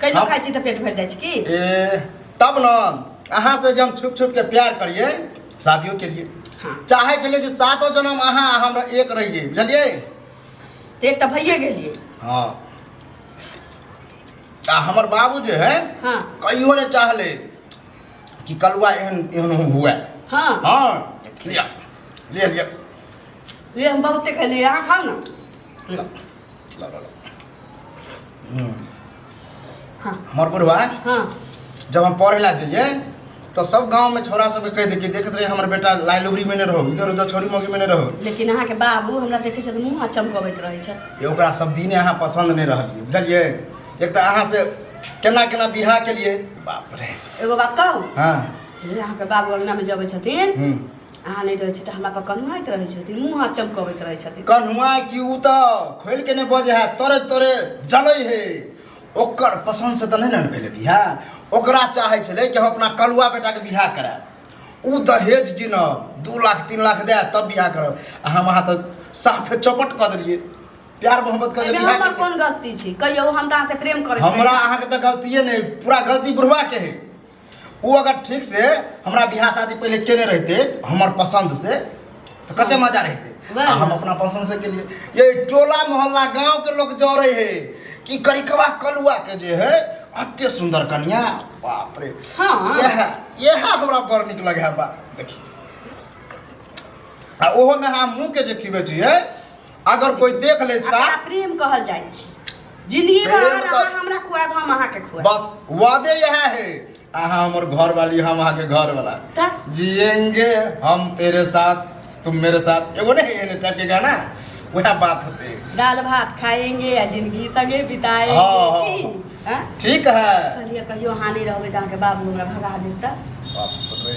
कैलो हम- खाइ छी तऽ पेट भरि जाइ छै की ए तब ने अहाँ से जे हम छुप छुप के प्यार करिए शादियों के लिए हाँ चाहे छलिए कि सातो जन्म अहाँ आ हमरा एक रहिए बुझलिए तऽ एक तऽ भइए गेलियै हाँ आ हमर बाबू जे है हाँ कहियो ने चाहले कि कलुआ एहन एहन हुए हाँ हाँ लिया ले लिया ले हम बहुते खेलियै अहाँ खाउ ने लो, लो, लो, लो। हमर बुढ़वा हाँ जब हम पढ़े ला जाइए तो सब गांव में छोरा सबके कह दे कि देखत रहे हमर बेटा लाइ लुबरी में ने रहो इधर उधर छोरी मोगी में ने रहो लेकिन अहाँके बाबू हमरा देखै छथि मुँह चमकबैत रहै छथि ये ओकरा सब दिने अहाँ पसंद नहीं रहलिए बुझलिए एक तो अहाँ से केना केना बिहा के लिए बाप रे एगो बात कहू हाँ हे अहाँके बाबू अङ्गनामे जबै छथिन हम्म, अहाँ नहि रहै छी तऽ हमरा पर कन्हुआइत रहै छथिन मुँह हाथ चमकबैत रहै छथिन कन्हुआइ कि ओ तऽ खोलि के नहि बजे है तोरे तोरे जलै हे ओकर पसन्द से तऽ नहि ने भेलै बियाह ओकरा चाहै छलै कि हम अपना कलुआ बेटाके बियाह कराय ओ दहेज गिनब दू लाख तीन लाख दए तब बियाह करब आ हम अहाँ तऽ साफे चौपट कऽ देलियै प्यार मोहब्बत कऽ के हमर कोन गलती छै कहियो हम तऽ अहाँ से प्रेम करै हमरा अहाँके तऽ गलतिये नहि पूरा गलती बुढ़वा के है ओ अगर ठीक से हमरा बियाह शादी पहले केने रहते हमर पसंद से तो कते मजा रहते वैह आ हम ना। अपना पसंद से के लिए ये टोला मोहल्ला गांव के लोग जोड़े है कि करिकवा कलुआ के जे है अते सुंदर कन्या बाप रे हाँ। यह यह हमरा बड़ निक लगे है बा देखी आ ओहो में हम मुंह के जे खिबे छी है अगर कोई देख ले सा एकरा प्रेम कहल जाइ छै जिंदगी भर प्रेम अगर अहाँ कह- हमरा खुआएब हम अहाँके खुआएब बस वादे यह है अहाँ हमर घर वाली हम अहाँ के घर वाला का? जिएंगे हम तेरे साथ तुम मेरे साथ एगो नहीं एने टाइप के गाना वह बात होते दाल भात खाएंगे आ जिंदगी संगे हाँ, बिताएंगे हाँ। की हाँ? ठीक है कहलिए कहियो अहाँ नहीं रहबै तऽ अहाँके बाबू हमरा भगा देता बाप रे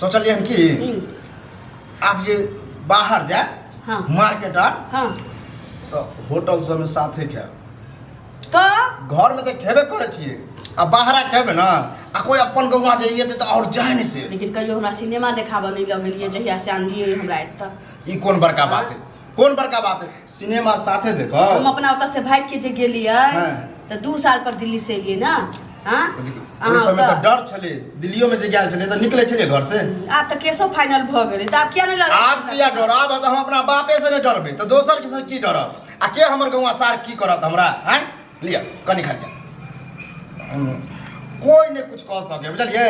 सोचलियै हन की हम्म, आप जे बाहर जाए हाँ मार्केट आर हाँ तो होटल सब में साथे खाएब तो घर में तो खेबे करे छियै आ बाहरा खेबे ना आ कोई अपन गौवा जाइए तो और जाए नहीं से लेकिन कहियो हमरा सिनेमा देखाबऽ नहीं लगलिए जहिया से आनलिए हमरा एतऽ ई कोन बड़का बात है कोन बड़का बात है सिनेमा साथे हम देखब अपना ओतऽ से भागि के जे गेलियै हाँ। तऽ दू साल पर दिल्ली से एलियै ने हाँ तऽ देखियौ, अहाँ ओहि समय तऽ ओतऽ- डर छलै दिल्लियो में जे गेल छलै तऽ निकलै छलै घर से आब तऽ केसो फाइनल भऽ गेलै तऽ आब किया नहि लगै आब किया डर आब तऽ हम अपना बापे से नहि डरबै तऽ दोसर के से की डरब आ के हमर गौवा सार की करत हमरा हैं लिअ कनी खा लिअ हम कोई नहि कुछ कह सके बुझलियै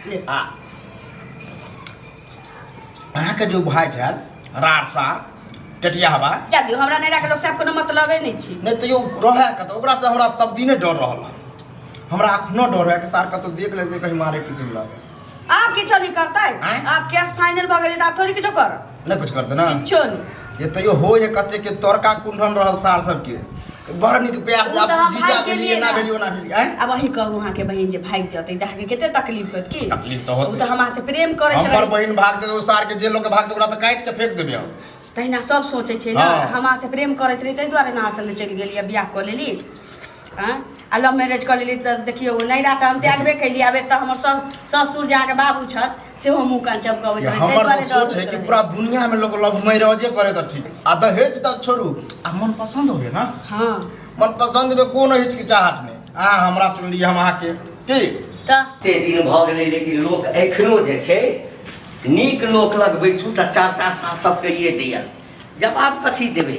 ले। आ अहाँके जे भाय छल रार सार टटिया हवा जा दियौ हमरा नैरा के लोक से आब कोनो मतलबे नहि छै नहि तैयो रहै कतऽ ओकरासँ हमरा सब दिने डर रहल हँ। हमरा एखनो डर रहै कि सार कतौ देख लेतै कहीं मारे पीटे लग आब किछो नहि करतै आँय? आब केस फाइनल भऽ गेलै तऽ आब थोड़ी किछो करत नहि कुछ करतै ने किछो नहि जे तैयो हो हे कते के तड़का कुंडन रहल सार सबके बड़ नीक प्यार से उ तऽ आप हम जीजा भागि भेलिए गेलियै ना ने। भेलिए ना भेलिए आँय? अब अहीं कहू अहाँके बहिन जे भागि जतै तऽ अहाँके कते तकलीफ होत की तकलीफ तऽ होतै। उ तऽ हमरा से प्रेम करैत हमर रहै बहिन भाग दे सार के जे लोग भाग दे ओकरा तऽ काटि के फेंक देबे हम तहिना सब सोचै छै ने हँ। हमरा से प्रेम करैत रहै ताहि दुआरे ने अहाँ संगे चलि गेलियै बियाह कऽ लेली आँय? आ लव मैरिज कऽ लेली तऽ देखियौ नैरा तऽ हम त्यागबे केलियै आब एतऽ हमर सस- ससुर जे अहाँके बाबू छथि सेहो मुँह कान चमकबैत रहै ताहि हमर दुआरे तऽ डर सोच है होइत कि रहै। पूरा दुनिया में लोग लव मैरिजे करे तऽ ठीक आ दहेज तक छोड़ू आ मन पसंद होय ना हँ मन पसंद में कोनो हिचकिचाहट नहीं अहाँ हमरा चुनली हम अहाँके ठीक तऽ एते दिन भऽ गेलै लेकिन लोक एखनो जे छै नीक लोक लग बैसू तऽ चार चार सात सए कहिए दिअ जवाब कथी देबै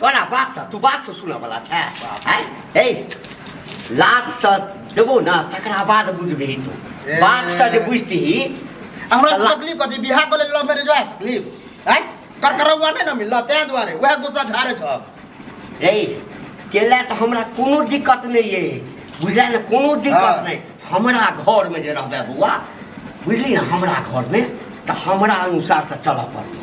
तोरा बात से तू बात से सुनऽ वाला छै हैं? हे लात से देबो ना तकरा बाद बुझबही तू बात से जे बुझतीही हमरा से तकलीफ कथी बियाह कऽ लेल लव मैरिज वएह तकलीफ हैं कर करौआ नहि ने मिलल तें दुआरे वएह गुस्सा झाड़े छ रे केला तऽ हमरा कोनो दिक्कत नहि अछि बुझलियै ने कोनो दिक्कत हाँ। नहि हमरा घरमे जे रहबै बौआ बुझली ने हमरा घरमे तऽ हमरा अनुसार तऽ चलऽ पड़तौ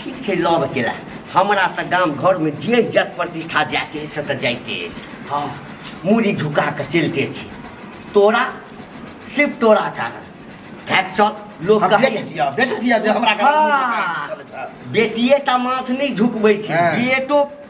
ठीक छै लऽ अकेला हमरा तऽ गाम घरमे जे इज्जत प्रतिष्ठा जायके अछि से तऽ जाइते अछि हँ मूड़ी झुका कऽ चलिते छी तोरा सिर्फ तोरा कारण खैर चल लोक हम कहै बेटी छियै बेटी छियै जे हमरा घर हाँ। चलै छै बेटिए टा माथ नहि झुकबै छै हाँ। बेटो